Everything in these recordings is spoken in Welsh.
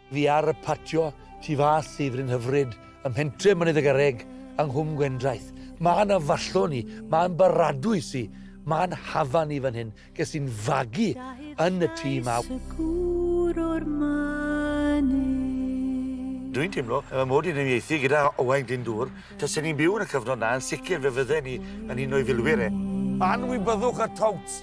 Fi ar y patio tu fas i Fryn Hyfryd ym mhentre Mynydd y Garreg yng Nghwm Gwendraeth. Mân a fallon i, mân baradwys i, mân hafan i fan hyn. Ges i'n fagu yn y tŷ 'ma. Dwi'n teimlo y mae mod i'n uniaethu gyda Owain Glyndŵr. Tasen ni'n byw yn y cyfnod 'na, yn sicr fe fydden ni yn un o'i filwyr e. Anwybyddwch y Touts!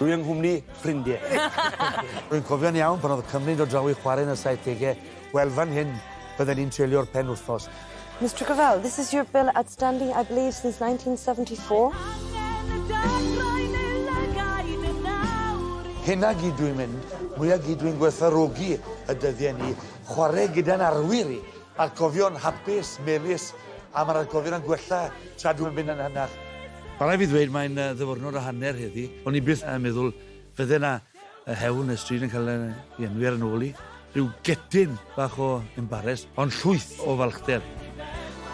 Dwi yng nghwmni ffrindie. Rwy'n cofio'n iawn pan oedd y Cymry'n dod draw i chwarae yn y saithdegau, wel fan hyn bydden ni'n treulio'r penwythnos. Mister Cavell, this is your bill outstanding, I believe, since 1974. Hyn a gyd dwi'n mynd, mwya gyd dwi'n gwerthfawrogi y dyddiau ni, chwarae gyda'n arwyr i, Atgofion hapus, melys, am yr atgofion yn gwella tra dwi'm yn mynd yn hynach. Ma' rai' fi ddweud mae'n ddyfyrnod o hanner heddi. O'n i byth yn meddwl fydde 'na hewl neu stryd yn cael ei enwi ar 'y nôl i. Rhyw getyn bach o embares, ond llwyth o falchder.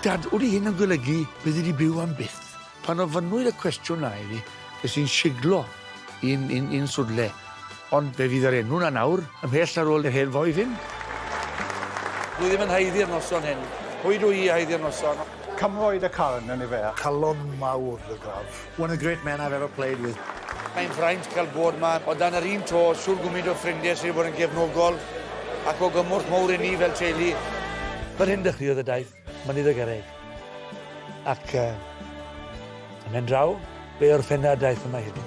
Dad, odi hyn yn golygu byddi di byw am byth? Pan ofynnwyd y cwestiwn 'na i fi, ges i'n siglo i'n i'n i'n swnlle. Ond fe fydd yr enw 'na nawr, ymhell ar ôl yr hen foi hyn. Dwi ddim yn haeddu'r noson hyn. Pwy dw i i haeddu'r noson? Cymro i dy carn, yn ife? Calon mawr dy graf. One of the great men I've ever played with. Mae'n fraint cael bod 'ma. O dan yr un to, shwr gwmint o ffrindie sy' 'di bod yn gefnogol ac o gymorth mowr i ni fel teulu. Fel hyn dechreuodd y daith. Mynydd y Garreg. Ac yy yn mhen draw, be o'r ffenad daeth yma heddi?